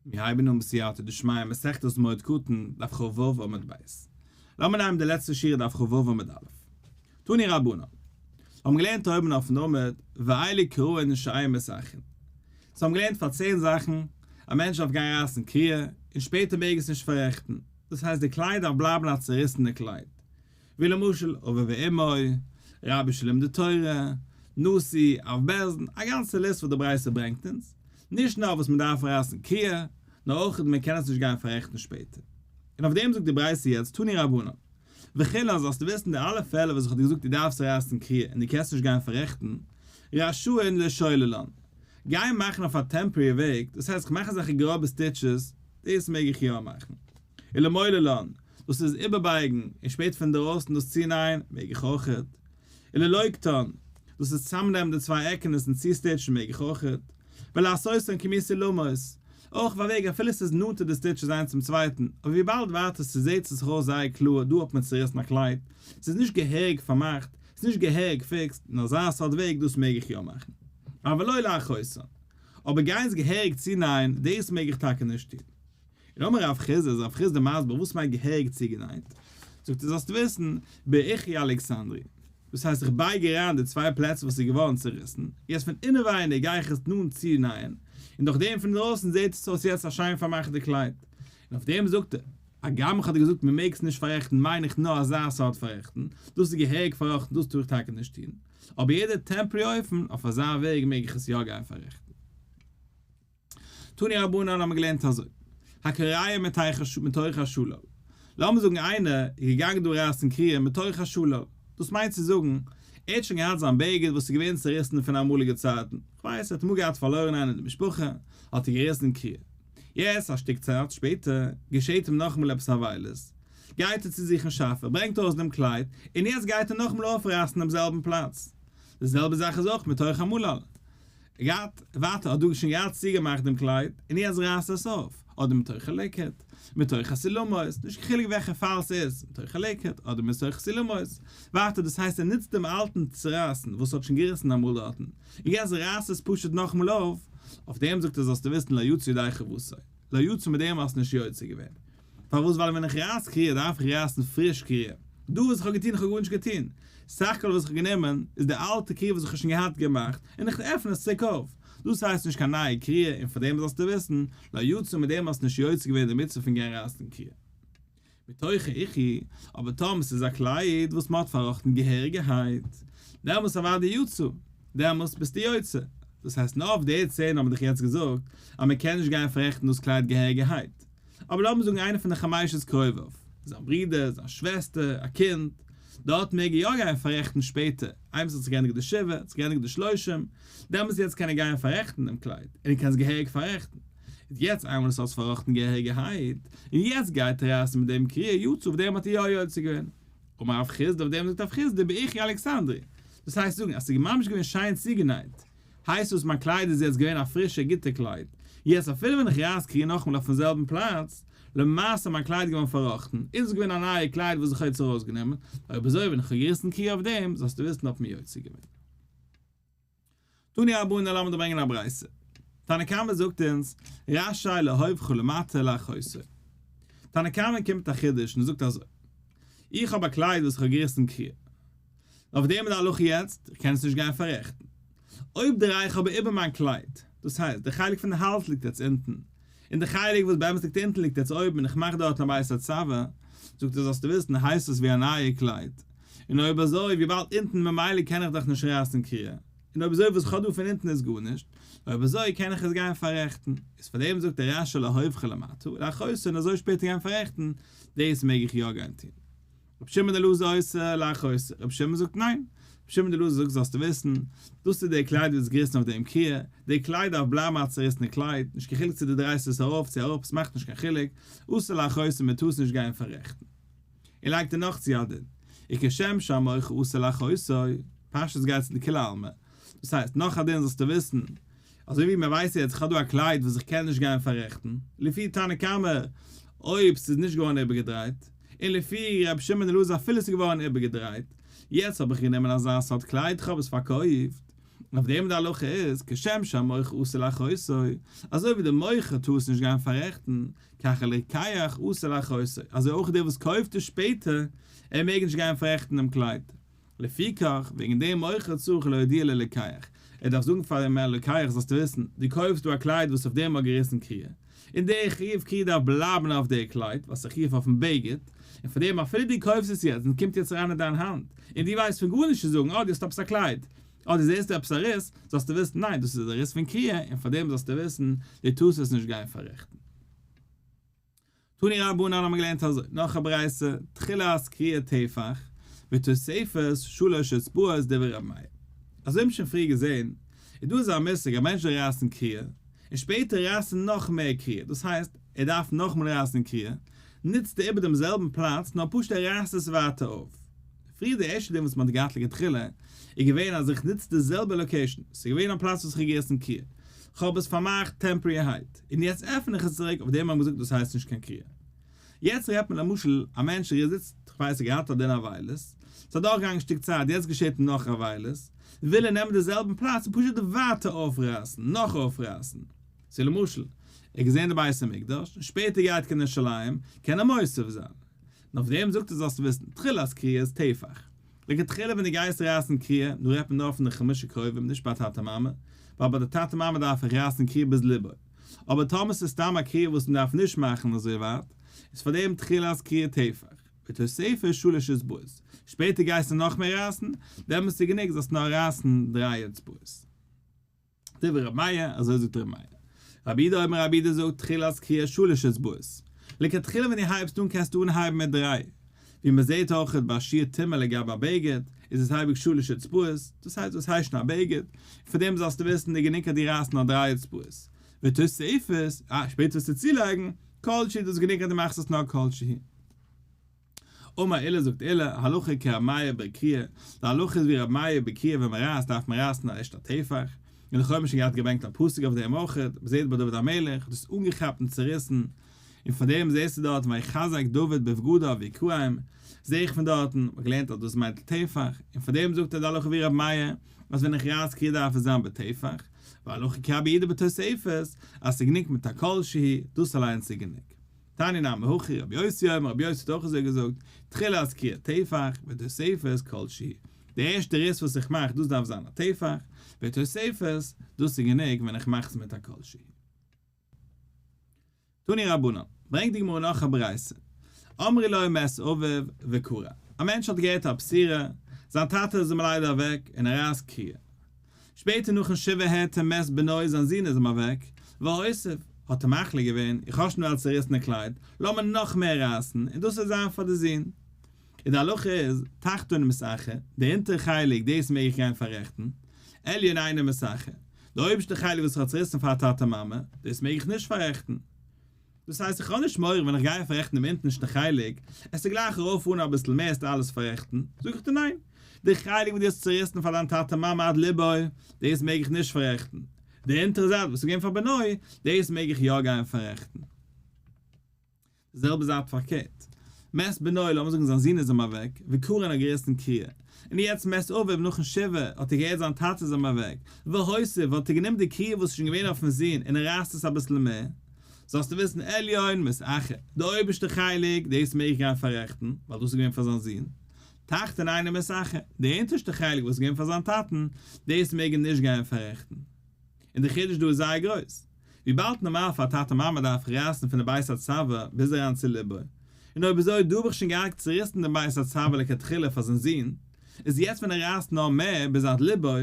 מיר הייבן אן בסייעתא דשמיא מסכת מועד קטן, דף ח ו עמוד ב'. לאמיר נעמען די לעצטע שורה דף ח ו עמוד א'. תני רבנן. מיר האבן געלערנט אויבן אויפן עמוד, ואלה קרוהן שהיה מסכין. סאו האבן געלערנט פאר צען זאכן, א מענטש דארף גיין רייסן קריעה, און שפעטער מעג עס נישט פאררעכטן. דאס הייסט די קלייד דארף בלייבן א צוריסענע קלייד. ווי למשל אבי ואמי, רבי של לומדי תורה, נשיא, אב בעלזן, א גאנצע ליסט וואס די ברייתא ברענגט אונז, נישט נאר וואס מען דארף רייסן קריעה, נאר אויך וואס מען קען עס נישט גיין פאררעכטן שפעטער. און אויף דעם זאגט די ברייתא יעצט תני רבנן. וכו' אז זאלסטו וויסן די אלע פעלער וואס איך האב דיר געזאגט דו דארפסט רייסן קריעה און דו קענסט נישט גיין פאררעכטן, רשאין לשוללן. גיין מאכן אויף א טעמפארי וועג, דאס הייסט איך מאך אזעלכע גראבע סטיטשעס, דאס מעג איך יא מאכן. אלא מאי ללאן, דאס איז איבערבייגן און שפעט פון דערויסן דאס צונען, מעג איך אויכעט. אלא לא יקטן, דאס איז צוזאמנעמען די צוויי עקענעס און צוסטיטשן, מעג איך אויכעט. ולעשותן כמי סולמות, אויך אויף א וועג אפילו עס איז נאנטער די סטיטשעס איינס צום צווייטן, אבער וויבאלד ווייטער צו זעט עס זיך אויס זייער קלאר, דא האט מען צוריסן א קלייד, עס איז נישט געהעריג פארמאכט, עס איז נישט געהעריג פיקסט, אין אזא סארט וועג, דאס מעג איך יא מאכן. אבל לא לעכותן, אבער גיין עס געהעריג צונען, דאס מעג איך טאקע נישט טון. און אמר רב חיסדא, איז רב חיסדא מסביר וואס מיינט געהעריג צוגענייט, זאגט ער זאלסט וויסן, באיכי אלכסנדרי, דאס הייסט איך בייג אריין די צוויי פלעצער וואס איז געווארן צוריסן, יעצט פון אינעווייניג גיי איך עס נאנט צונייען, און דורך דעם פון דרויסן זעט עס אויס יעצט א שיין פארמאכטע קלייד, און אויף דעם זאגט ער, הגם איך האב דיר געזאגט מען מעג עס נישט פאררעכטן מיין איך נאר אזא סארט פאררעכטן, דאס איז געהעריג פארראכטן דאס טאר איך טאקע נישט טון, אבער יעדע טעמפארי אופן אויף אזא וועג מעג איך עס יא גיין פאררעכטן. תני רבנן האט מען געלערנט אזוי, הקריה מתוך השלל, לאמיר זאגן איינער איז געגאנגען דא רייסן קריה מתוך השלל, דאס מיינט צו זאגן, ער האט שוין געהאט זיין בגד וואס איז געווען צוריסן פון אמאליגע צייטן, כ'ווייס ער האט אמאל געהאט פארלוירן איינעם אין די משפחה, האט ער געריסן קריה, יעצט א שטיק צייט שפעטער געשעט אים נאכאמאל עפעס א וויילות, גייט ער צו זיך אין שאפע, ברענגט ארויס דעם קלייד, און יעצט גייט ער נאכאמאל אויפרייסן דעם זעלבן פלאץ, די זעלבע זאך איז אויך מתוך המלל, גייט ווייטער האט דאגה שוין געהאט צוגעמאכט דעם קלייד און יעצט רייסט עס אויף אדער מתוך ליקוט מתוך סילומות נישט קיין חילוק וועלכע פאל ס'איז מתוך ליקוט אדער מתוך סילומות ווייטער דאס הייסט ער נוצט דעם אלטן צורייסן וואס האט שוין געריסן אמאל דארטן און יעצט רייסט עס פשוט נאכאמאל אויף אויף דעם זאגט ער זאלסטו וויסן לא יצא ידי חבוטו לא יצא מיט דעם האסט נישט יוצא געווען פארוואס ווייל ווען איך רייס קריעה דארף איך רייסן פריש קריעה? דא וואס איך האב געטון איך האב גארנישט געטון סך הכל וואס איך האב גענומען איז די אלטע קריעה וואס איך האב שוין געהאט געמאכט און איך עפען עס צוריק אויף דאס הייסט נישט קיין נייע קריעה און פאר דעם זאלסטו וויסן לא יצא מיט דעם האסט נישט יוצא געווען די מצוה פון גיין רייסן קריעה מתוכו איכי אבער טאמער ס'איז א קלייד וואס מ'האט פארראכטן געהעריגערהייט דעמאלטס אוודאי יצא דעמאלטס ביסטו יוצא דאס הייסט נאר אויף די צען האב איך דיך יעצט געזאגט אז מ'קען נישט גיין פאררעכטן דאס קלייד געהעריגערהייט אבער לאמיר זאגן איינער פון די חמיישעס קרוביו, זיין ברודער, זיין שוועסטער, א קינד, דארט מעג ער יא גיין פאררעכטן שפעטער, איינמאל ס'האט זיך געענדיגט די שבעה, האט זיך געענדיגט די שלושים, דעמאלטס יעצט קען ער גיין פאררעכטן דעם קלייד, און ער קען עס געהעריג פאררעכטן. איז יעצט איינמאל עס האט זיך פארראכטן געהעריגערהייט, און יעצט גייט ער ארויס מיט דעם קריעה יצא, אויף דעם האט ער יא יוצא געווען. אמר רב חיסדא, אויף דעם זאגט רב חיסדא, באיכי אלכסנדרי, דאס הייסט זאגן אז ס'איז ממש געווען שיין צוגענייט, הייסט וואס מיין קלייד איז יעצט געווען א פרישע גוטע קלייד, יעצט אפילו ווען איך רייס קריען נאכאמאל אויפן זעלבן פלאץ, למעשה מיין קלייד געווארן פארראכטן, איז עס געווען א נייע קלייד וואס איך האב יעצט ארויסגענומען, אויב אזוי ווען איך האב געריסן קריעה אויף דעם, זאלסטו וויסן האט מען יוצא געווען. תני רבנן לאמיר ברענגען א ברייתא. תנא קמא זאגט אונז, רשאי להופכו למטה לאחוסו. תנא קמא קומט מיט א חידוש און ער זאגט אזוי, איך האב א קלייד וואס איך האב געריסן קריעה. אויף דעם איז די הלכה יעצט, איך קען עס נישט גיין פאררעכטן. אויב דריי איך אבער איבער מיין קלייד, דאס הייסט, דער חלק פון די האלז ליגט יעצט אונטן, און דער חלק וואס באמת ליגט אונטן ליגט יעצט אויבן און איך מאך דארט א בית הצבה, זאגט ער זאלסטו וויסן הייסט עס ווי א נייע קלייד, און אויב אזוי וויבאלד אונטן ממילא קען איך דאך נישט רייסן קריעה, און אויב אזוי וואס איך האב דא פון אונטן איז גארנישט, אויב אזוי קען איך עס גיין פאררעכטן, איז פאר דעם זאגט דער רשי להופכו למטה ולהכוסו און אזוי שפעטער גיין פאררעכטן, דאס מעג איך יא גיין טון. רבי שמעון אלעזר עושה לך עושה, רבי שמעון זאגט ניין, רבי שמעון אלעזר זאגט זאלסטו וויסן, דאס איז די קלייד וואס איז געריסן אויף דעם קריעה, די קלייד דארף בלייבן א צעריסענע קלייד, נישט קיין חילוק צו דו דרייסט עס ארויף צו אראפ עס מאכט נישט קיין חילוק, עושה לך עושה מען טאר עס נישט גיין פאררעכטן. און לייגט ער נאך צו א דין, וכשם שאמר עושה לך עושה, פשטות גייט צו די כולי עלמא, דאס הייסט נאך א דין זאלסטו וויסן, אזוי ווי מען ווייסט יעצט, איך האב דא א קלייד וואס איך קען נישט גיין פאררעכטן, לפי תנא קמא אויב ס'איז נישט געווארן איבערגעדרייט, און לפי ר' שמעון אלעזר אפילו ס'איז געווארן איבערגעדרייט, יעצט האב איך גענומען אזא סארט קלייד, איך האב עס פארקויפט, אויף דעם די הלכה איז, כשם שהמוכר אסור לכסותו, אזוי ווי דער מוכר טאר עס נישט גיין פאררעכטן, ככה לרוקח אסור לכסותו, אזוי אויך דער וואס קויפט עס שפעטער, ער מעג נישט גיין פאררעכטן דעם קלייד, לפיכך, וועגן דעם אויך צריך להודיע ללקח, ער דארף זאגן פאר דעם לוקח, זאלסט וויסן, דו קויפסט דא א קלייד וואס אויף דעם האט געריסן קריעה, און דער חיוב קריעה דארף בלייבן אויף דער קלייד, וואס איז א חיוב אויפן בגד, און פאר דעם אפילו דו קויפסט עס יעצט און ס'קומט יעצט אריין אין דיין האנט, און דו ווייסט פון גארנישט צו זאגן, אה, דו האסט עפעס א קלייד, אה, דו זעסט דא עפעס א ריס, זאלסטו וויסן, ניין, דאס איז א ריס פון קריעה, און פאר דעם זאלסטו וויסן, דו טארסט עס נישט גיין פאררעכטן. תני רבנן האט מען געלערנט אזוי, נאך א ברייתא, תחילת קריאה טפח, ותוספות, שלש אצבעות דברי רבי מאיר. אזוי האבן שוין פריער געזען, איז דא אזא מושג אז מענטשן רייסן קריאה, און שפעטער רייסן נאך מער קריאה, דאס הייסט, ער דארף נאכמאל רייסן קריאה, ניצט ער איבער דעם זעלבן פלאץ, נאר פשוט ער רייסט עס ווייטער אויף. פריער די ערשטע דין וואס מען האט געהאט לכתחילה, איז געווען אז איך ניץ די זעלבע לאקעישאן, ס'איז געווען א פלאץ וואס איך האב געריסן קריאה, כ'האב עס פארמאכט טעמפריערהייט, און יעצט עפן איך עס צוריק, אויף דעם האט מען געזאגט דאס הייסט נישט קיין קריאה. יעצט רעדט מען למשל א מענטש ער איז איצט, כ'ווייס ער געהאט א דין אבילות, ס'איז אדורכגעגאנגען שטיק צייט, יעצט געשעט אים נאך אבילות, וויל ער נעמען די זעלבן פלאץ און פשוט ווייטער אויפרייסן, נאך אויפרייסן. צו למשל, ער האט געזען די בית המקדש, און שפעטער גייט קיין ירושלים, קען ער מוסיף זיין. און אויף דעם זאגט ער זאלסט וויסן, תחילת קריאה איז טפח. לכתחילה ווען דו גייסט רייסן קריעה, דא רעדט מען נאר פון די חמשה קרובים, נישט ביי טאטע מאמע, ווייל ביי די טאטע מאמע דארף איך רייסן קריעה ביז ליבוי. אבער טאמער ס'איז סתם א קריעה וואס מ'דארף נישט מאכן אזוי ווייט, איז פאר דעם תחילת קריעה טפח, ותוספת שלש אצבעות, שפעטער גייסטו נאכמער רייסן, דעמאלטס איז גענוג זאלסט נאר רייסן דריי אצבעות. דברי ר' מאיר, אזוי זאגט ר' מאיר. רבי איד אויב רבי איד זאגט תחילת קריאה שלש אצבעות. לכתחילה ווען דו הייבסט אן קענסטו אנהייבן מיט דריי. ווי מען זעהט אויכעט ביי שיר טעמא לגבי א בגד, איז עס אייביג שלש אצבעות, דאס הייסט דאס הייסט שוין א בגד, און פון דעם זאלסטו וויסן די גענונג אז דו רייסט נאר דריי אצבעות. ותוספות, אה, שפעטער וועסטו צולייגן, כל שהיא דאס איז גענונג אז דו מאכסט עס נאר כל שהיא. אמר אלה זאגט אלה, הלכה כר' מאיר בער קריעה, די הלכה איז ווי ר' מאיר בער קריעה ווען מען רייסט דארף מען רייסן א רשת הטפח, און לכאו' האט מען שוין געהאט געברענגט א פסוק אויף דעם אויך, בזה ד ביי דוד המלך האט עס אנגעכאפט און צוריסן, און פון דעם זעסטו דארט ויחזק דוד בבגדיו ויקרעים, זע איך פון דארטן, מ'האט געלערנט אז דאס מיינט טפח, און פון דעם זאגט ער די הלכה ווי ר' מאיר, אז ווען איך רייס קריעה דארף עס זיין בטפח, והלכה כרבי אידא בתוספות, אז ס'איז גענוג מיט א כל שהיא, דאס אליינס איז גענוג. תני נא מהכי רבי יוסי אמר רבי יוסי האט אויך אזוי געזאגט, תחילה אז קריאת טפח ותוספת כל ש, די ערשטע ריס וואס איך מאך דאס דארף זיין א טפח, ותוספת דאס איז גענוג ווען איך מאך עס מיט א כל ש. תני רבנן, ברענגט די גמרא נאך א ברייתא, אמרי ליה מת אביו וקרא, א מענטש האט געהערט א פסירה, זיין טאטע איז אים ליידער אוועק און ער רייסט קריעה, שפעטער נאכן שבעה הערט ער מס בנוי זיין זון איז אים אוועק, והוסיף, האט ער מחליט געווען, איך האב שוין נאר א צוריסענע קלייד, לאמיר נאך מער רייסן, און דאס וועט זיין פאר די זון. און די הלכה איז, תחתון מסכה, די אונטערע חלק דאס מעג איך גיין פאררעכטן, עליון אינו מסכה, די אויבערשטע חלק וואס איך האב צוריסן פאר טאטע מאמע, דאס מעג איך נישט פאררעכטן. דאס הייסט איך האב נישט מורא ווען איך גיי פאררעכטן דעם אונטערשטן חלק, עס איז גלייך ארויף אן אביסל מער עסט אלעס פאררעכטן, זאג איך דיר ניין, די חלק וואס דו האסט צוריסן פאר דיין טאטע מאמע עד לבו, דאס מעג איך נישט פאררעכטן, די אונטערע זייט וואס איז געווען פאר בנוי, דאס מעג איך יא גיין פאררעכטן. די זעלבע זייט פארקערט, מעסט בנוי לאמיר זאגן זיין זון איז אים אוועק, וקרן האט געריסן קריה, און יעצט מעסט אביו נאכן שבעה האט ער געהערט זיין טאטע איז אים אוועק, והוסיף האט ער גענומען די קריה וואס איז שוין געווען אויפן זון און ער רייסט עס אביסל מער, זאלסטו וויסן עליון מס אכ די אויבערשטע חלק דאס מעג איך גיין פאררעכטן ווייל דאס איז געווען פאר זיין זון, תחתון אינו מס אכ די אונטערשטע חלק וואס איז געווען פאר זיין טאטן דאס מעג ער נישט גיין פאררעכטן, און די חידוש דא איז זייער גרויס, וויבאלד נארמאל פאר א טאטע מאמע דארף איך רייסן פון די בית הצוואה ביז אריין צו ליבו, און אויב אזוי דא האב איך שוין געהאקט צוריסן דעם בית הצוואה לכתחילה פאר זיין זון, איז יעצט ווען ער רייסט נאר מער ביז עד ליבו,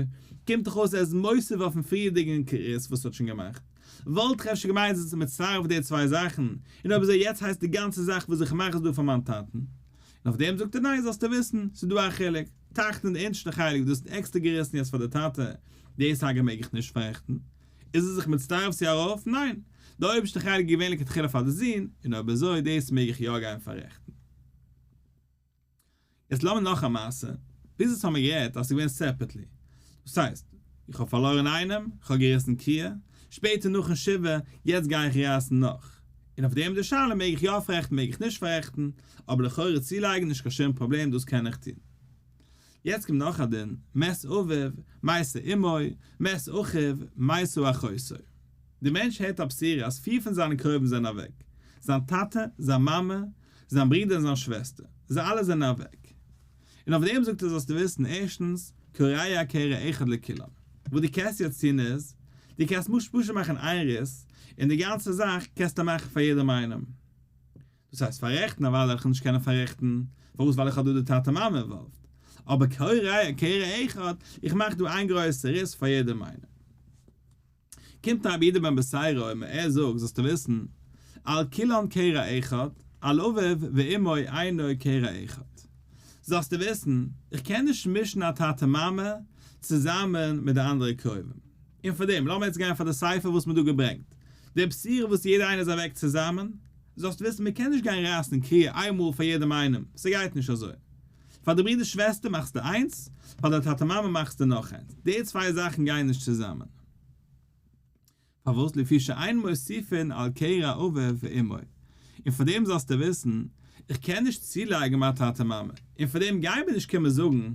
קומט דאך אויס ער איז מוסיף אויפן פריערדיגן ריס וואס ער האט שוין געמאכט. וואלט איך אפשר געמיינט זיך צו מצרף די צוויי זאכן, און אויב אזוי יעצט הייסט די גאנצע זאך וואס איך מאך איז דא פאר מיין טאטן? און אויף דעם זאגט ער ניין זאלסטו וויסן ס'איז דא א חילוק, תחתון די אונטשטע חלק דאס איז עקסטער געריסן יעצט פאר די טאטע, די סאגה מעג איך נישט פארעכטן, איז ער זיך מצטרף צו הרב? ניין, די אויבערשטע חלק איז געווען לכתחילה פאר די זון, און אויב אזוי דאס מעג איך יא גיין פארעכטן. יעצט לאמיר נאך א מעשה, ביז יעצט האמיר גערעדט אז ס'איז געווען סעפערטלי, דאס הייסט, איך האב פארלוירן איינעם, איך האב געריסן קיה, שפעטער נאכן שבעה, יעצט גיי איך רייסן נאך, און אויף דעם די שאלה מעג איך יא פאררעכטן מעג איך נישט פאררעכטן, אבער לכאורה צולייגן נישט קיין שום פראבלעם דאס קען איך טון. יעצט קומט נאך א דין, מת אביו, מתה אמו, מת אחיו, מתה אחותו. דער מענטש הערט א בשורה אז פיר פון זיינע קרובים זענען אוועק, זיין טאטע, זיין מאמע, זיין ברודער און זיין שוועסטער, זיי אלע זענען אוועק. און אויף דעם זאגט ער זאלסטו וויסן, ערשטנס, קריה קריה אחד לכולם. וואס דו קענסט יעצט טון איז, דו קענסט פשוט פשוט מאכן איין ריס, און די גאנצע זאך קענסטו מאכן פאר יעדעם איינעם. דאס הייסט פאררעכטן א ווייל וועל איך נישט קענען פאררעכטן, פארוואס ווייל איך האב דא די טאטע מאמע אינוואלווד, אבער כהאי ראיה כהאי ראי' אחד, איך מאך דא איין גרויסע ריס פאר יעדע מיינונג. קומט א רבי איד בן בשרו און ער זאגט זאלסטו וויסן, על כולן כהאי ראי' אחד, על אביו ואמו אינו כהאי ראי' אחד. זאלסטו וויסן, איך קען נישט מישן א טאטע מאמע צוזאמען מיט די אנדערע קרובים. און פאר דעם לאמיר יעצט גיין פאר די ספר וואס מ'האט דא געברענגט די בחירה וואס יעדער איינער איז אוועק צוזאמען, זאלסט וויסן מ'קען נישט גיין רייסן קריעה איין מאל פאר יעדעם איינעם, ס'גייט נישט אזוי. פאר די ברודער שוועסטער מאכסטו איינס, פאר די טאטע מאמע מאכסטו נאך איינס, די צוויי זאכן גייען נישט צוזאמען. פארוואס לפי שאין מוסיפין על קרע אביו ואמו, און פאר דעם זאלסטו וויסן איך קען נישט צולייגן מיין טאטע מאמע, און פאר דעם גייען מיר נישט קומען זאגן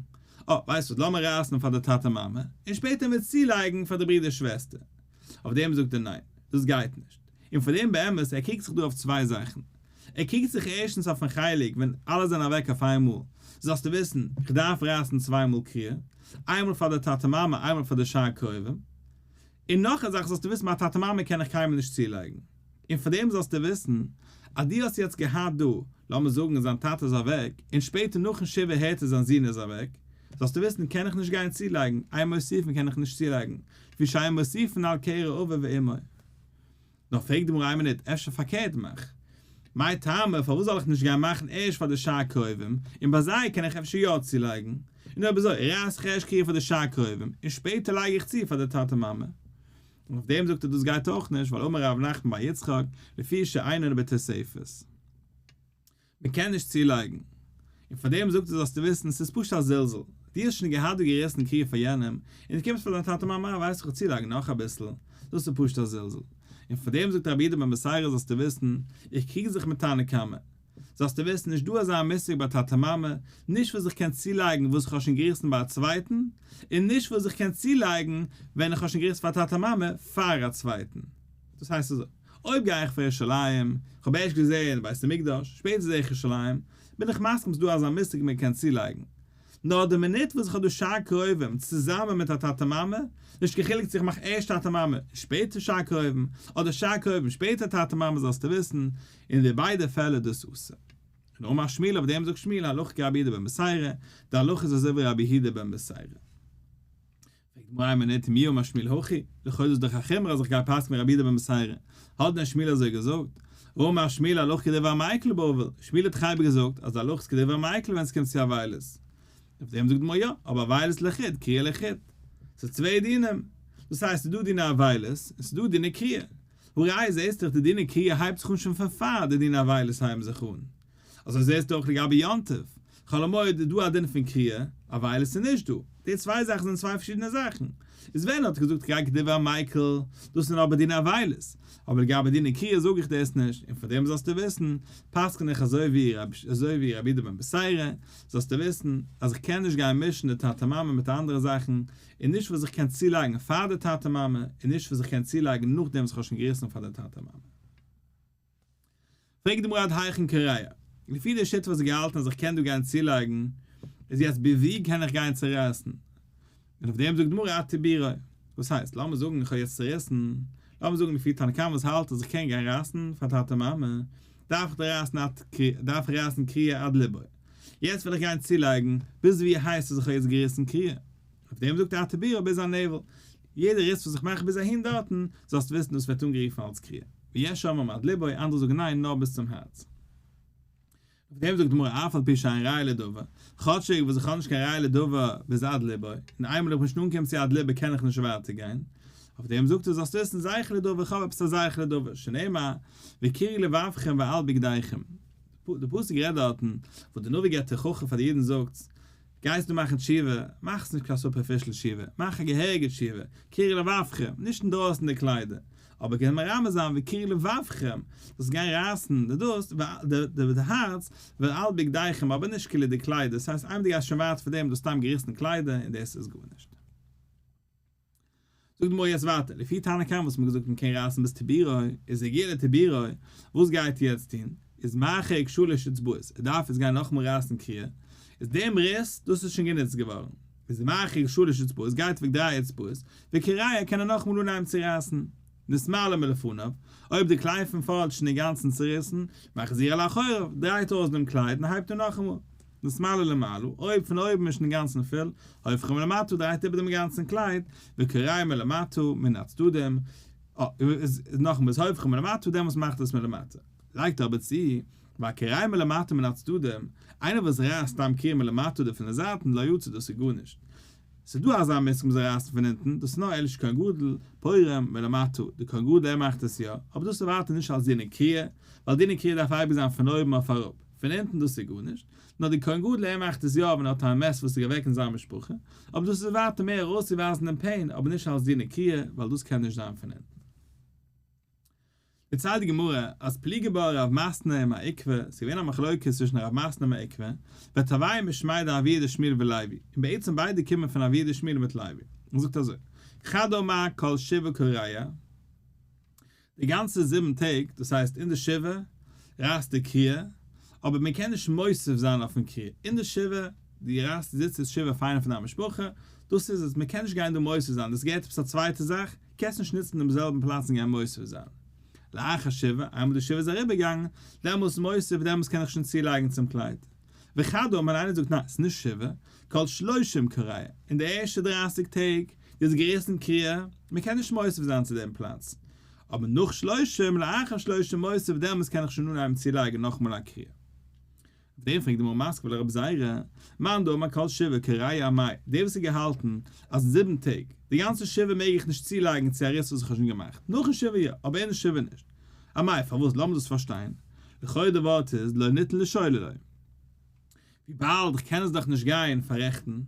אה, ווייסט וואס, לאמיר רייסן פאר די טאטע מאמע, און שפעטער וועט עס צולייגן פאר די ברודער שוועסטער. אויף דעם זאגט ער ניין, דאס גייט נישט. און פאר דעם באמת, ער קריגט זיך דא אויף צוויי זאכן. ער קריגט זיך ערשטנס אויפן חלק ווען אלע זענען אוועק אויף איין מאל, זאלסטו וויסן, כ'דארף רייסן צוויי מאל קריעה, איינמאל פאר די טאטע מאמע, איינמאל פאר די שאר קרובים. און נאך א זאך זאלסטו וויסן מיין טאטע מאמע קען איך קיינמאל נישט צולייגן, און פאר דעם זאלסטו וויסן אז דו האסט יעצט געהאט דא, לאמיר זאגן זיין טאטע איז אוועק, און שפעטער נאכן שבעה הערט ער זיין זון איז אוועק, זאלסטו וויסן קען איך נישט גיין צולייגן, איין מוסיפן קען איך נישט צולייגן, ווי שאין מוסיפין על קערה אביו ואמו. נאר פרעגט די גמרא איין מינוט אפשר פארקערט מיך מאי טעמא פארוואס זאל איך נישט גיין מאכן ערשט פאר די שעה קרובים און ביי זיי קען איך אפשר יא צולייגן און אויב אזוי רייס איך ערשט קריעה פאר די שעה קרובים און שפעטער לייג איך צו פאר די טאטע מאמע אויף דעם זאגט ער דאס גייט אויך נישט ווייל אמר ר' נחמן בר יצחק לפי שעייננו בתוספות מען קען נישט צולייגן. און פאר דעם זאגט ער זאלסטו וויסן ס'איז פשוט א זלזול. דו האסט שוין געהאט די געריסן קריעה פאר יענעם, און דו קומסט פאר דיין טאטע מאמע אה ווייסט איך צולייגן נאך אביסל, דאס איז פשוט א זלזול. און פאר דעם זאגט רבי איד בן בשרה זאלסטו וויסן, איך קריג זיך מיט תנא קמא. זאלסטו וויסן נישט דא אזא מושג ביי טאטע מאמע, נישט וואס איך קען צולייגן וואס איך האב שוין געריסן ביי א צווייטן, און נישט וואס איך קען צולייגן ווען איך האב שוין געריסן פאר טאטע מאמע פאר א צווייטן. דאס הייסט אזוי. אויב גיי איך פאר ירושלים, כ'האב ערשט געזעהן בית המקדש, שפעטער זעה איך ירושלים, בין איך מסכים ס'דא אזא מושג מען קען צולייגן. נאר די מינוט וואס איך האב דא שאר קרובים צוזאמען מיט א טאטע מאמע, נישט קיין חילוק צו איך מאך ערשט טאטע מאמע און שפעטער שאר קרובים, אדער שאר קרובים שפעטער טאטע מאמע זאלסטו וויסן, אין די ביידע פעלער איז דאס אסור. און אמר שמואל אויף דעם זאגט שמואל הלכה כרבי יהודה בן מסעירא, די הלכה איז אזוי ווי רבי יהודה בן מסעירא. פרעגט די גמרא מנין תמיהו מה שמיל הוכי, לכאו' איז דאך א חומרא אז איך גיי פסק'ן ווי רבי יהודה בן מסיירא, האט דען שמיל אזוי געזאגט? אמר שמיל הלוך כדבר מייקל בבל, שמיל האט דאך אייביג געזאגט אז די הלוך איז כדבר מייקל ווען עס קומט צו אבילות. אויף דעם זאגט די גמרא יא, אבער אבילות לחוד, קריעה לחוד. ס'איז צוויי דינים. דאס הייסט ס'איז דא דיני אבילות און ס'איז דא דיני קריעה. הראי' זעהסטו דאך די דיני קריעה הייבט זיך אן שוין פון פאר די דיני אבילות הייבן זיך אן. אזוי זעהסטו אויך לגבי יום טוב, חול המועד איז דא א דין פון קריעה, א ווייל עס איז נישט דא. די צוויי זאכן זענען צוויי פארשידענע זאכן. איז ווען ער האט געזאגט כג כדברי המייקל, דאס זענען אבער דיני אבילות. אבער לגבי דיני קריעה זאג איך דאס נישט, און פון דעם זאלסטו וויסן, פסק'ן איך אזוי ווי אזוי ווי רבי איד בן בשרה, זאלסטו וויסן, אז איך קען נישט גיין מישן די טאטע מאמע מיט אנדערע זאכן, און נישט וואס איך קען צולייגן פאר די טאטע מאמע, און נישט וואס איך קען צולייגן נאכדעם וואס איך האב שוין געריסן פאר די טאטע מאמע. פרעגט די מרא דאתרא אין קריה, לפי די שיטה וואס איז געהאלטן אז איך קען דא גיין צולייגן, איז יעצט ביז וואו קען איך גיין צורייסן? און אויף דעם זאגט די מרא אתי ביראה, וואס הייסט, לאמיר זאגן איך האב יעצט צוריסן, לאמיר זאגן לפי תנא קמא וואס האלט אז איך קען גיין רייסן פאר טאטע מאמע, דארף איך דארף רייסן קריה עד לבו, יעצט וויל איך גיין צולייגן, ביז וואו הייסט אז איך האב יעצט געריסן קריה? אויף דעם זאגט א תבי ר ביז א נעוועל, יעדער איד ס'וויל זיך מאכן ביז אהין דארטן, זאלסט וויסן דאס ווערט אנגערופן אלס קריעה. ויש האומרים עד לבו, אנדערע זאגן ניין, נאר ביז צום הארץ. אויף דעם זאגט די גמרא אף על פי שאין ראיה לדבר, כאטשיג וואס איך האב נישט קיין ראיה לדבר ביז עד לבו, און איינמאל איך בין שוין אנגעקומען צו עד לבו קען איך נישט ווייטער גיין, אויף דעם זאגט ער זאלסט וויסן זייער'ך לדבר איך האב עפעס א זייער'ך לדבר, שנאמר וקירי לבבכם ואל בגדיכם, די פסוק רעדט דארטן וואס די נביא געבט תוכחה פאר די אידן זאגטס, גייסט דא מאכן תשובה, מאך נישט קיין סופערפישל תשובה, מאך א געהעריגע תשובה, קירי לבבכם, נישט אינדרויסן די קליידער, אבער קען מרמז זיין ווי קירי לבבכם, דאס גיין רייסן די דאס, די הארץ, ועל בגדיכם, אבער נישט קילע די קליידער, ס'הייסט איינמאל די גייסט שוין ווייט פון דעם, דו האסט סתם געריסן קליידער און דאס איז גארנישט. זאגט די גמרא יעצט ווייטער, לפי תנא קמא וואס מען האט געזאגט מען קען רייסן ביז תבירא, איז ער גר לתבירא, וואס גייט ער יעצט טון? איז מרחיק שלש אצבעות, ער דארף יעצט גיין נאכאמאל רייסן קריעה, איז דעם ריס, דאס איז שוין גענוצט געווארן, איז ער מרחיק שלש אצבעות, גייט אוועק דריי אצבעות, וקריה קען ער נאכאמאל אנהייבן צו רייסן. נסמלא מלפניו, אויב די קלייד פון פארנט איז שוין אינגאנצן צוריסן, מחזיר לאחוריו, דרייט אויס דעם קלייד און הייבט אן נאכאמאל. משמאלי למעלה, אויב פון אויבן איז שוין אינגאנצן פול, הופכים למטה דרייט איבער דעם גאנצן קלייד, וקרעי מלמטה, מן הצדדים, איז נאכמער איז הופכים מלמטה דעמאלס מאכט עס מלמטה. לייגט ער אבער צו, והקרעי מלמטה מן הצדדים, איינער וואס רייסט סתם קרעי מלמטה די פון די זייטן, לא יצא דאס איז גארנישט, ס'איז דא אזא מושג מ'זאל רייסן פון אונטן, דאס איז נאר עליש כהן גדול, פורים, ולמטה, דער כהן גדול ער מאכט עס יא, אבער דאס איז ווייטער נישט אלס דין עקריא, ווייל דין עקריא דארף אייביג זיין פון אויבן אויף אראפ, פון אונטן דאס איז גארנישט, נאר דער כהן גדול ער מאכט עס יא ווען ער האט א מעש וואס איז אוועק אין זיין משפחה, אבער דאס איז ווייטער מער ארויסצוווייזן דעם פעין, אבער נישט אלס דין עקריא, ווייל דאס קען נישט זיין פון אונטן. דערציילט די גמרא אז פליגי בא רב מסנא עם העיקבא, ס'איז געווען א מחלוקת צווישן רב מסנא און העיקבא, וטבעי משמי דאן אביה דשמואל ולוי, און בעצם ביידע קומען פון אביה דשמואל בת לוי, און זאגט אזוי, חדא מאי כל שבעה קריה, די גאנצע זיבן טעג, דאס הייסט אין די שבעה, רייסט די קריה, אבער מען קען נישט מוסיף זיין אויפן קריה, אין די שבעה, די רייסט זיצט איז שבעה פיינער פון דיין משפחה, דאס איז עס, מען קען נישט גיין דא מוסיף זיין, דאס געהערט עפעס א צווייטע זאך, קענסט נישט נוצן דעם זעלבן פלאץ און גיין מוסיף זיין לאחר שבעה, איינמאל די שבעה איז אריבערגעגאנגען, דעמאלס מוסיף, דעמאלס קען איך שוין צולייגן צום קלייד. וכדו' און איינער זאגט ניין, ס'איז נישט שבעה, כל שלושים קריאה, אין די ערשטע דרײַסיק טעג איז געריסן קריאה, מ'קען נישט מוסיף זיין צו דעם פלאץ, אבער נאך שלושים, לאחר שלושים מוסיף, דעמאלס קען איך שוין אנהייבן צולייגן נאכמאל א קריאה. דער פרעגט דעם ארמאסקוועלער רב זי ע, מאן דאמר כל שבעה כראיה ע מאי, דער וואס האט געהאלטן אז אין זיבן טעג, די גאנצע שבעה מעג איך נישט צולייגן צו א ריס וואס איך האב שוין געמאכט, נאכן שבעה יא, אבער אינעם שבעה נישט. ע מאי, פארוואס? לאמיר דאס פארשטיין. לכאו' די ווארט איז לא ניתן לשאול אלי. וויבאלד איך קען עס דאך נישט גיין פאררעכטן,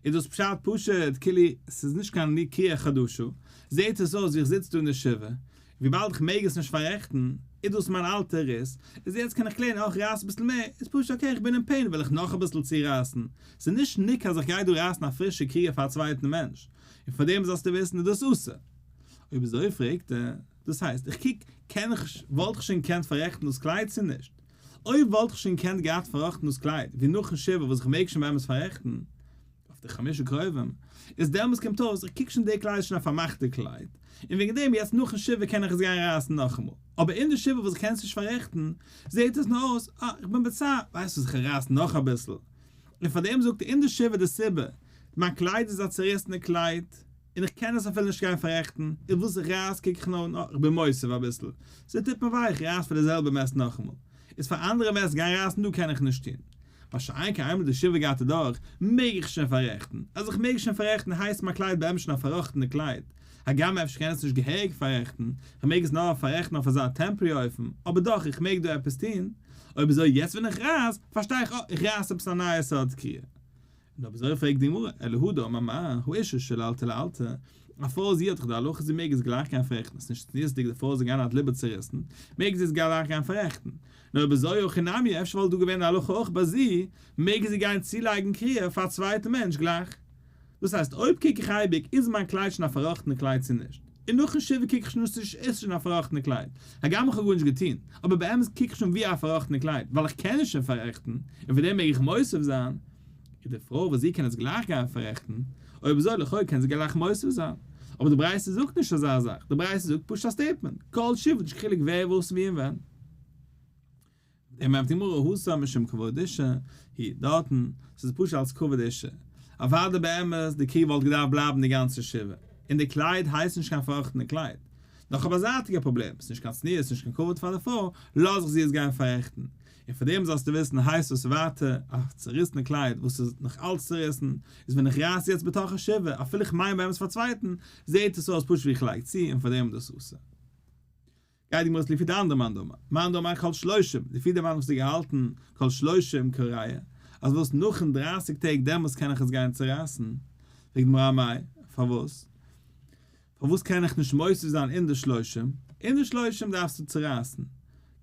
איז דאס פשט פשוט כאילו ס'איז נישט קיין ליקויי חדשו, זעהט עס אויס ווי איך זיץ דא אין די שבעה, און וויבאלד איך מעג עס נישט פאררעכטן, איז דאס מיין אלטע ריס, איז יעצט קען איך קלערן אויך רייס אביסל מער, איז פשוט אקעי איך בין אין פעין וויל איך נאך אביסל צורייסן, ס'איז נישט ניק אז איך גיי דא רייסן א פרישע קריעה פאר א צווייטן מענטש, און פאר דעם זאלסטו וויסן איז דאס אסור. אויב איז אזוי פרעגט ער, דאס הייסט איך קוק קען איך וואלט איך שוין געקענט פאררעכטן דאס קלייד צו נישט? אוי וואלט איך שוין געקענט געהאט פארראכטן דאס קלייד ווי נאכן שבעה וואס איך מעג שוין באמת פאררעכטן אויף די חמשה קרובים, איז דעמאלס קומט אויס איך קוק שוין די קלייד איז שוין א פארמאכטע קלייד, און וועגן דעם יעצט נאכן שבעה קען איך עס גיין רייסן נאכאמאל, אבער אין די שבעה וואס איך קען עס נישט פאררעכטן זעהט עס נאר אויס אה איך בין בצער, ווייסט וואס איך רייס נאך אביסל, און פארדעם זאגט אין די שבעה די סיבה, מיין קלייד איז א צוריסענע קלייד. און איך קען עס אפילו נישט גיין פאררעכטן, איז וואס איך רייס קוק איך נאר נאך, איך בין מוסיף אביסל, ס'איז טיפ און וויי, איך רייס פאר די זעלבע מעסט נאכאמאל, איז פאר אנדערע מעסט גיין רייסן דא קען איך נישט טון, מה שאין כן איינמאל די שבעה גייט אדורך, מעג איך שוין פאררעכטן, אז איך מעג שוין פאררעכטן הייסט מיין קלייד באמת שוין א פארראכטענע קלייד, הגם אפשר קען עס נישט געהעריג פאררעכטן, איך מעג עס נאר פאררעכטן אויף אזא טעמפרי אופן, אבער דאך איך מעג דא עפעס טון, אויב אזוי יעצט ווען איך רייס, פארשטיי איך אה, איך רייס עפעס א נייע סארט קריעה, נאר וויאזוי פרעגט די גמרא, אלא הוא דאמר מה הוא אישה של אלטע לאלטע, א פרוי זי האט דאך די הלכה זי מעג עס גלייך גיין פאררעכטן, עס איז נישט צניעות'דיג די פרוי זאל גיין האט ליבער צוריסן, מעג זי עס גלייך גיין פאררעכטן, נאר ובזוי הכי נמי אפשר וואלט דא געווען די הלכה אויך ביי זי, מעג זי גיין צולייגן קריעה פאר א צווייטע מענטש גלייך. דאס הייסט אויב קוק איך אייביג איז מיין קלייד שוין א פארראכטענע קלייד צו נישט. און נאכן שבעה קוק איך שוין אויס צו איך עס שוין א פארראכטענע קלייד, הגם איך האב גארנישט געטון, אבער באמת קוק איך שוין ווי א פארראכטענע קלייד, ווייל איך קען עס שוין פאררעכטן, און פון דעם מעג איך מוסיף זיין, איז די פרוי וואס זי קען עס גלייך גיין פאררעכטן, אויב אזוי לכאו' קען זי גלייך מוסיף זיין, אבער די ברייתא זאגט נישט אזא זאך, די ברייתא זאגט פשוט א סטעיטמענט, כל שבט יש חילוק ווער וואס ווי און ווען. ער מיינט די גמרא הוסא משום כבוד אישה היא, דארטן, ס'איז פשוט אלס כבוד אישה. אוודאי באמת די קריב וואלט געדארפט בלייבן די גאנצע שבעה, און די קלייד הייסט נישט קיין פארראכטענע קלייד. נאך א באזייטיגע פראבלעם, ס'נישט קיין צניעות נישט קיין כבוד פאר די פרוי, לאז איך זי עס גיין פאררעכטן. און פאר דעם זאלסטו וויסן הייסט עס ווייטער א צוריסענע קלייד וואס איז נאך אלץ צוריסן, איז ווען איך רייס יעצט בתוך השבעה אפילו איך מיין באמת פאר צווייטן, זעהט עס אויס פשוט ווי איך לייג צו און פאר דעם איז דאס אסור. גייט די גמרא אז לפי דאן דאן מאן דאמר מאן דאמר כל שלושים, לפי די מאן וואס האט געהאלטן כל שלושים כל ראיה, אז וואס נאכן דרייסיג טעג דעמאלס קען איך עס גיין צורייסן, פרעגט די גמרא מאי, פארוואס? פארוואס קען איך נישט מוסיף זיין אין די שלושים? אין די שלושים דארפסטו צורייסן,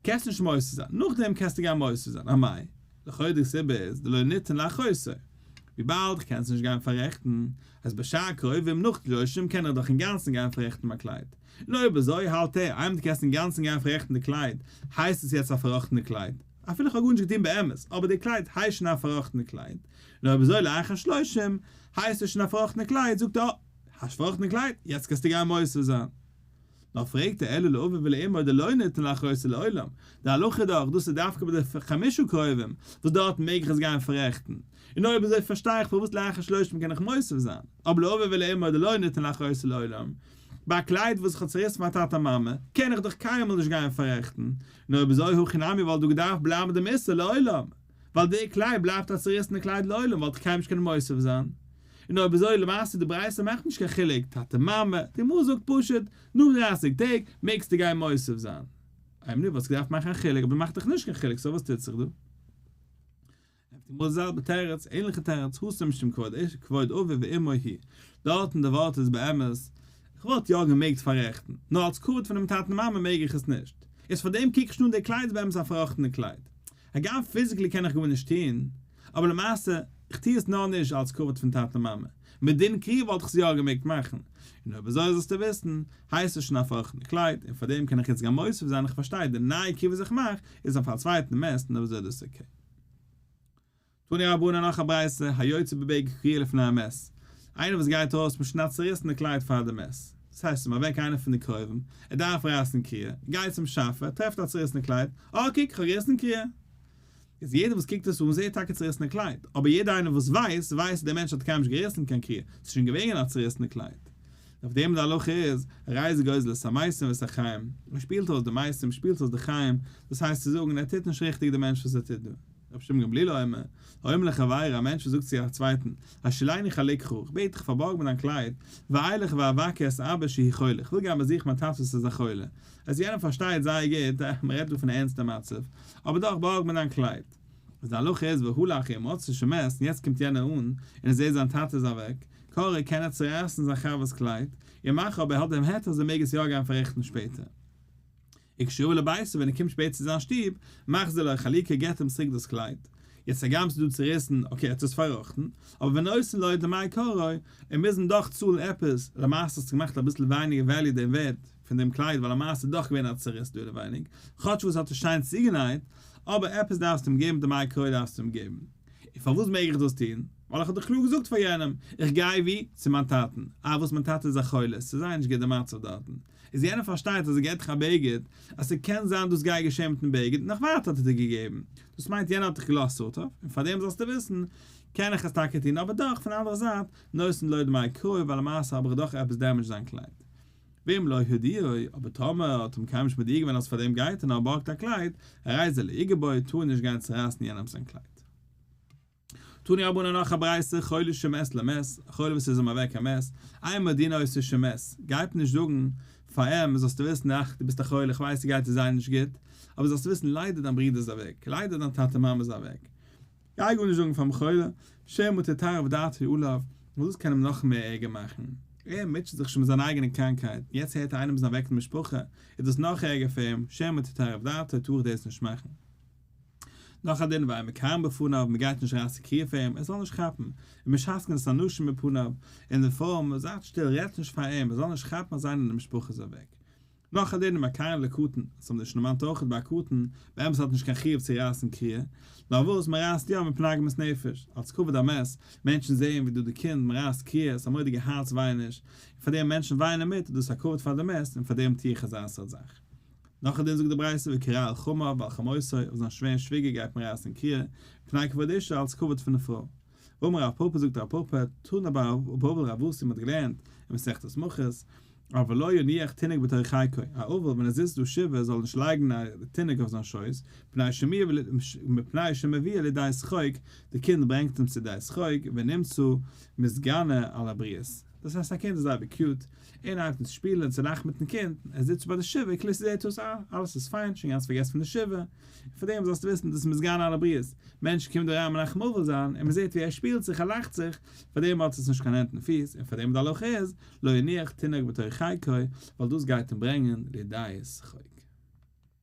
קענסט נישט מוסיף זיין, נאכדעם קענסטו גיין מוסיף זיין, א מאי, לכאו' די סיבה איז דלא ניתן לאחוסר, וויבאלד כ'קען עס נישט גיין פאררעכטן, אז בשעה קרובים נאך שלושים קען איך דאך אינגאנצן גיין פאררעכטן מיין קלייד, נו אויב אזוי האלט ער, איינמאל דו קענסט אינגאנצן גיין פארעכטן די קלייד, הייסט עס יעצט א פאראכטענע קלייד, אפילו כ'האב גארנישט געטון באמת, אבער די קלייד הייסט שוין א פאראכטענע קלייד, נו אויב אזוי לאחר השלושים הייסט עס שוין א פאראכטענע קלייד, זאגט ער אה, הייסט פאראכטענע קלייד, יעצט קענסטו גיין מוסר זיין. נאר פרעגט ער אלא לאווי ולאמור די לא ניתן לאחרית לעולם, די הלכה איז דאך דאס איז דווקא ביי די חמשה קרובים וואס דארטן מעג איך עס גיין פארעכטן, און אויב אזוי פארשטיי איך פארוואס לאחר שלושים קען איך מוסר זיין, אבער לאווי ולאמור די לא ניתן לאחרית לעולם, ביי א קלייד וואס איך האב צעריסן פאר טאטע מאמע, קען איך דאך קיינמאל נישט גיין פאררעכטן, נו אויב אזוי הכי נמי וואלט דא געדארפט בלייבן דעם איסור לעולם, ווייל די קלייד בלייבט א צעריסענע קלייד לעולם וואלט איך קיינמאל נישט קענען מוסיף זיין, און אויב אזוי למעשה די ברייתא מאכט נישט קיין חילוק, טאטע מאמע, די גמרא זאגט פשוט, נאך דרייסיג טעג מעגסטו גיין מוסיף זיין. איי נו וואלסט געדארפט מאכן א חילוק אבער מאכט דאך נישט קיין חילוק סאו וואס טוט זיך דא? עפ ד מאל זעלבע תירוץ, ענליכע תירוץ, האסט נישט דעם כבוד איש, כבוד אביו ואמו הי'. דארט אין די ווארט איז באמת, כ'וואלט יא געמעגט פאררעכטן, נאר אלס כבוד פונעם טאטן מאמע מעג איך עס נישט. איז פאר דעם קוק איך נישט אן די קלייד איז באמת א פארראכטענע קלייד. הגם פיזיקלי קען איך גארנישט טון, אבער למעשה, איך טו עס נאר נישט אלס כבוד פון טאטע מאמע. מדין קרי וואלט איך עס יא געמעגט מאכן. און אויב אזוי זאלסטו וויסן, הייסט עס שוין א פארראכטענע קלייד, און פאר דעם קען איך יעצט גאר מוסיף זיין איך פארשטיי די נייע כבוד איך מאך איז אויף א צווייטן מעסטן אויב אזוי דאס איז אקעי. תנו רבנן נאך א ברייתא, היוצא בב' כריע לפני המת, איינער וואס גייט ארויס מיט שנאט צוריסענע קלייד פאר די מת, דאס הייסט ס'איז אוועק איינער פון די קרובים, ער דארף רייסן קריע, ער גייט צום שאפע, ער טרעפט א צוריסענע קלייד, אה קוק כ'האב געריסן קריע! איז יעדער וואס קוקט עס אן זעהט טאקע צוריסענע קלייד, אבער יעדער איינער וואס ווייסט, ווייסט אז דער מענטש האט קיינמאל נישט געריסן קיין קריע, ס'איז שוין געווען א צוריסענע קלייד. אויף דעם די הלכה איז, רייז גוזל את המעשים ואת החיים, מען שפילט אויס די מעשים, מען שפילט אויס די חיים, דאס הייסט צו זאגן, ער טוט נישט ריכטיג די מענטש וואס ער טוט דא. רבי שמעון גמליאל אומר, האומר לחבירו, א מענטש וואס זאגט צו א צווייטן, השילני חליקך, איך בעט דיך פארבארג מיר דיין קלייד, ואילך ואבקר את אבי שהי' חולה, איך וויל גיין באזוכן מיין טאטע וואס איז א חולה, אז יענער פארשטייט זייער גוט, מען רעדט דא פון א ערנסטע מצב, אבער דאך בארג מיר דיין קלייד. וואס די הלכה איז והוא לאחר מות ס'איז שוין מעש און יעצט קומט יענער אן און ער זעהט זיין טאטע איז אוועק קארעקט קען ער צורייסן זיין חבר'ס קלייד און מאכן אבער ער האט דעם היתר אז ער מעג עס יא גיין פאררעכטן שפעטער איך שובו לביתו ווען ער קומט שפעטער צו זיין שטוב מחזיר לו חליקה געבט אים צוריק דאס קלייד יעצט הגם ס'איז דא צוריסן אקעי ער האט עס פארראכטן אבער ווען עושים לו את דמי קארו און מוזן דאך צאלן עפעס למעשה האסטו געמאכט אביסל ווייניגער וועליו דעם ווערד פון דעם קלייד ווייל למעשה איז דאך געווען א צרות דא אינעווייניג, כאטש וואס האט עס שיין צוגענייט, אבער עפעס דארפסטו אים געבן דעם איי קרוי דארפסטו אים געבן. און פארוואס מעג איך דאס טון? ווייל איך האב דאך קלאר געזאגט פאר יענעם, איך גיי ווי? צו מיין טאטן, אה וואס מיין טאטע איז א חולה, ס'איז זייער נישט גוט די מצב דארטן, איז יענער פארשטייט אז ער געט דיך א בגד, אז ס'קען זיין דאס גיי געשען מיטן בגד, נאך ווייטער האט ער דיר געגעבן, דאס מיינט יענער האט דיך געלאזט סארט אוו, און פארדעם זאלסטו וויסן, קען איך עס טאקע טון, אבער דאך פון די אנדערע זייט, נושאים לא את דמי קרוי ווייל למעשה האב איך דאך עפעס דעמעדזשט זיין קלייד. ואם לא הודיעו, אבער טאמער האט אים קיינמאל נישט מודיע געווען אז פארדעם גייט ער נאר בארגט א קלייד, א רייזע לאיגעבוי, טאר ער נישט גיין צורייסן יענעמס זיין קלייד. תני רבנן נאך א ברייתא, חולה שמת למת, א חולה וואס איז אים אוועק א מת, איין מודיעין אויס צו שמת, גייט מען נישט זאגן פאר אים, זאלסטו וויסן, אך, דו ביסט א חולה, איך ווייס ס'גייט דיר זייער נישט גוט, אבער זאלסטו וויסן ליידער דיין ברודער איז אוועק, ליידער דיין טאטע מאמע איז אוועק. גיי גארנישט זאגן פארן בחור'ל, שמא תתערב דעתו עליו, ווייל דאס קען אים נאך מער ערגער מאכן. ער מוטשעט זיך שוין מיט זיין אייגענע קראנקהייט, און יעצט הערט ער איינעם איז אוועק אין די משפחה, איז דאס נאך ערגער פאר אים, שמא תתערב דעתו, טאר איך דאס נישט מאכן. נאך א דין ואימה קארן בפניו, מען גייט נישט אריין צו קריה פאר אים, ער זאל נישט כאפן, און מען שאסקענט עס אנשים מפניו, און די פרוי, מען זייט שטיל, רעדטס נישט פאר אים, ער זאל נישט כאפן אז איינער אין די משפחה איז אוועק. נאך א דין ביי קארן לקטן, עס האב מיר נישט דערמאנט אויכעט ביי א קטן, באמת האט נישט קיין חיוב צו רייסן קריעה, נאר וואס מען רייסט יא מפני עגמת נפש, אלס כבוד המת, מענטשן זעען ווי דא די קינד, מען רייסט קריעה, עס איז א מודיגע הארץ ווייעניש, און פאר דעם מענטשן ווייענען מיט, איז דאס א כבוד פאר די מת, און פאר דעם טוה איך אזא סארט זאך. נאך א דין זאגט די ברייתא וקרא על חמיו ועל חמותו, אויף זיין שווער און שוויגער גייט מען רייסן קריעה, מפני כבוד אשתו אלס כבוד פון די פרוי, אמר רב פאפא זאגט רב פאפא תנא באבל רב וואס מ'האט געלערנט אין מסכת מכות, א ולא יניח תינוק בתוך חייקו, א אבל ווען ער זיצט דא שבעה זאל נישט לייגן א תינוק אויף זיין שויס, מפני שמביא לידי שחוק, די קינד ברענגט אים צו די שחוק, ונמצא מסגנא על הבריות. דאס הייסט א קינד איז אייביג קיוט, און הייבט אן צו שפילן און צו לאכן מיטן קינד, ער זיצט ביי די שבעה, כלי סידור תוס' א, אלעס איז פיין, שוין גאנץ פארגעסן פון די שבעה, פון דעם זאלסטו וויסן דאס מוז גיין אלע בריאות, מענטש קומט אריין מנחם אבל זיין און מען זעט ווי ער שפילט זיך ער לאכט זיך, פאר דעם האט עס נישט קיין הענט און פיס, און פאר דעם די הלכה איז, לא יניח תינוק בתוך חיקו, ווייל דאס גייט אים ברענגען לידי שחוק.